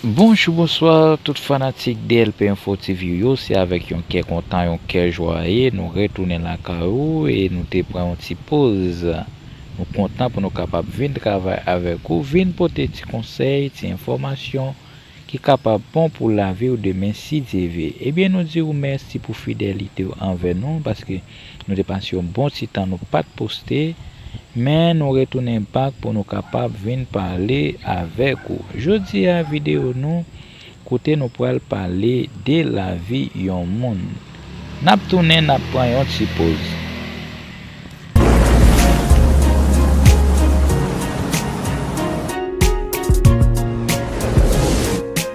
Bonjou bonswa tout fanatik DLP info TV yo se avèk yon kè kontan yon kè jwaye nou retounen lakay ou e nou te pran yon ti poz nou kontan pou nou kapab vin travay avèk ou vin pote ti konsèy ti enfòmasyon ki kapab bon pou laviw demen si Dye ve ebyen nou diw mèsi pou fidelitew anvè nou paske Nou te pase yon bon ti tan nou pat poste men nou retounen back pou nou kapab vin pale avèk ou jodi a video nou kote nou pral pale de lavi yon moun nap tounen nap pran yon ti poz.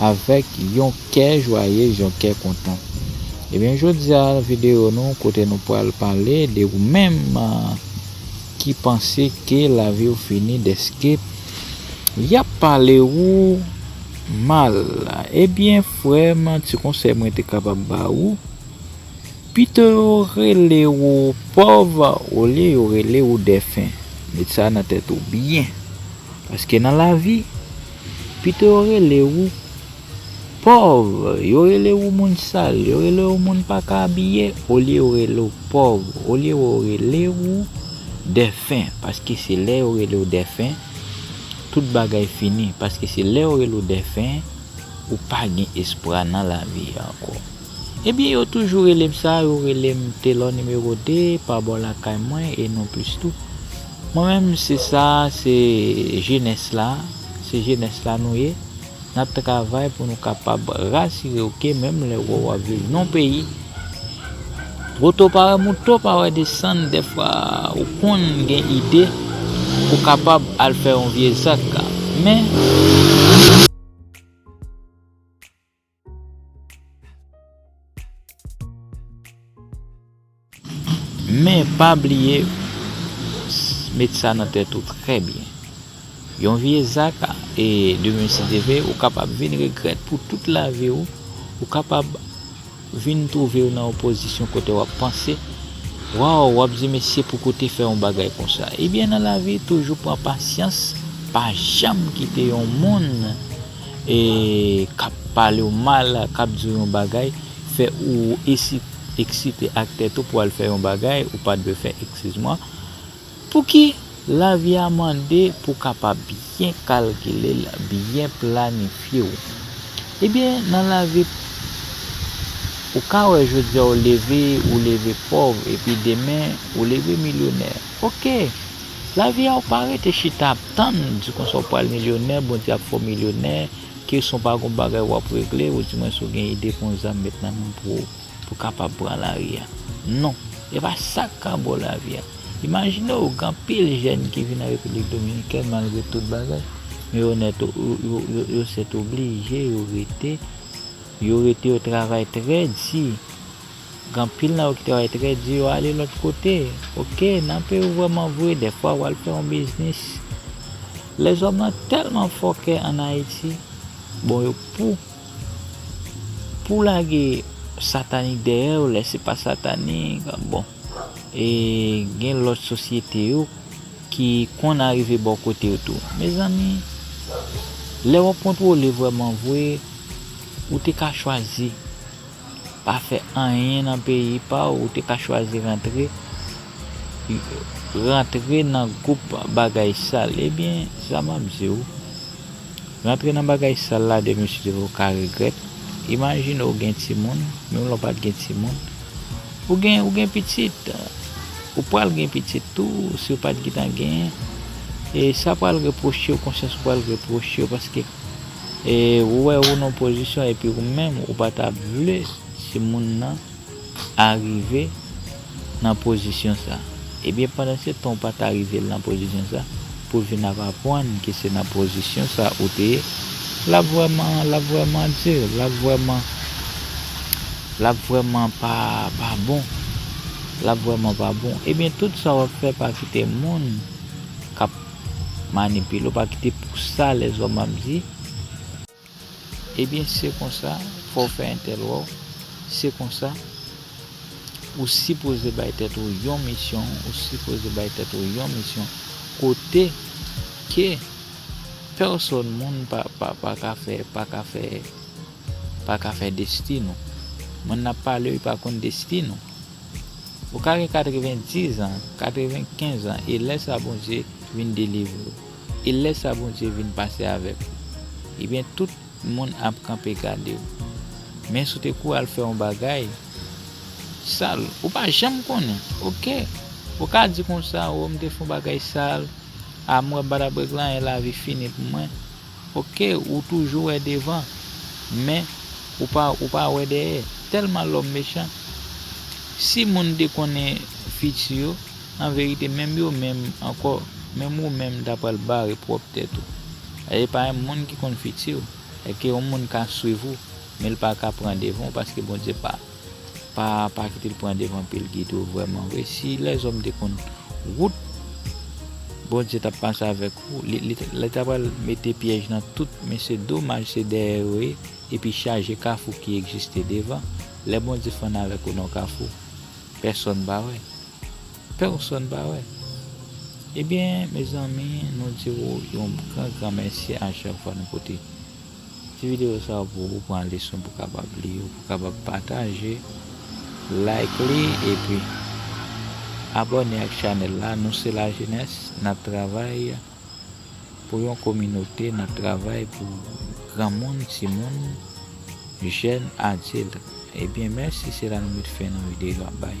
avèk yon kè jwayez yon kè kontan ebyen jodia nan video nou kote nou pral pale de ou menm ki panse ke laviw fini dèske yap pale ou mal ebyen frèm ti konsèy mwen te kapab ba ou pito yo rele ou pòv olye yo rele ou dèfen met sa nan tèt ou byen paske nan lavi Pito yo rele ou pòv, yo rele ou moun sal, yo rele ou moun pa ka abiye olye yo rele ou pòv, olye yo rele ou dèfen paske se lè yo rele ou dèfen tout bagay fini paske se lè yo rele ou dèfen ou pa gen espwa nan lavi ankò. Ebyen yo toujou relem sa yo relem telor nimero 2 pa bò lakay mwen e non plis tou mwen menm se sa se jenès la se jenès la nou ye nap travay pou nou kapab rasirew ke menm lè wè wap viv non peyi woto pa wè mouto pa wè desann dèfwa ou konn gen ide pou kapab al fè yon vye zak men. Men pa bliye met sa nan tèt ou trè byen, yon vye zak e demen si Dye vle ou kapab vin regrèt pou tout lavi w, ou kapab vin twouve w nan yon pozisyon kote w ap panse waw w ap di mesi pou kou te fè yon bagay konsa. Ebyen nan lavi toujou pran pasyans pa janm kite yon moun kap palew mal, kap diw yon bagay fè ou eksite ak tèt ou pou al fè yon bagay ou pat dwe fè eskiz mwen pouki lavi a mande pou kapab byen kalkilel byen planifyew ebyen nan lavi ou ka wè jodi ou leve ou leve pòv epi demen ou leve milyonè ok lavi a ou pa rete chita. Tann, di konsa ou pral milyonè, Bondye ap fè w milyonè, kesyon pa gon bagay wap regle, ou di mwen si w gen ide pou yon zam met nan men w pou ou kapab pran lari a. Non, e pa sa k ka ba w lavi a. Imajine w gen anpil jèn ki vin nan Repiblik Dominikèn malgre tout bagay, men yo nèt yo sètoblije yo rete, yo rete yo travay trè di, Gen pil nan yo ki travay trè di yo ale lòt kote ok nan peyi w vrèman vre dèfwa wal fè yon biznis lèzòm lan tèlman fòkè an ayiti bon yo pou pou lage satanik dèyè yo lè se pa satanik bon e gen lòt sosyete yo ki konn arive bò kote yo tou mezanmi lè wap kontwole vrèman vre ou te ka chwazi. pa fè anyen nan peyi paw ou te ka chwazi rantre rantre nan group bagay sal ebyen sa map diw rantre nan bagay sal la demen si demen ou ka regret imajine ou gen timoun menm lè ou pat gen timoun ou gen ou gen pitit ou pwal gen pitit tou si ou pat gitan gen e sa pwal reprochew konsyans ou pwal reprochew paske E ou wè ou nan pozisyon epi ou menm ou pa ta vle timoun nan arive nan pozisyon sa. Ebyen pandan se tan ou pa ta rive l nan pozisyon sa, pou l vin ap apwann ke se nan pozisyon sa ou te ye, l ap vrèman, l ap vrèman di, l ap vrèman, l ap vrèman pa, pa bon. L ap vrèman pa bon. Ebyen tout sa w ap fè pa kite moun k ap. Manipile w pa kite pou sa lèzòm ap di Ebyen se konsa fò w fè entèl wè w Se konsa ou sipoze bay tèt ou yon misyon Ou sipoze bay tèt ou yon misyon Kote ke pèsòn moun pa ka fè Pa ka fè Pa ka fè destin ou Moun n ap pale yo pa konn destin ou Ou ka gen 90 an, 95 an e lè sa Bondye vin delivre ou. E lè sa Bondye vin pase avèk ou. Ebyen tout moun ap kanpe gade ou. Men si w te kou al fè yon bagay sal, ou pa janm konnen. Ok. Ou ka di konsa, oh m te fè yon bagay sal, a m wè badabrek la e lavi fini pou mwen. Ok ou toujou wè devan men ou pa ou pa wè dèyè tèlman lòm mechan si moun te konnen fiti yo anverite menm yo menm ankò menm ou menm ta pral bare pwòp tèt ou e pa moun ki konn fitiw èke yon moun ka swiv ou menl paka pran devan ou paske Bondye pa Pa pa kite l pran devan pye l gide w vrèman vre si lèzòm te konn wout Bondye t ap pase avèk ou li ta pral mete pyèj nan tout men se domaj se dèyè yo ye epi chaje kafou ki egziste devan lè Bondye fann avèk ou nan w kafou pèsòn pa wè pèsòn pa wè ebyen mezanmi nou di w yon gran gran mèsi a chak fwa nou pote. Ti video sa yo pou ou pran leson pou kapab li yo pou kapab pataje like li epi abòne ak chanèl la nou se la jenès nap travay pou yon kominote nap travay pou granmoun timoun jèn adilt ebyen mèsi se la nou met fen nan video a bay.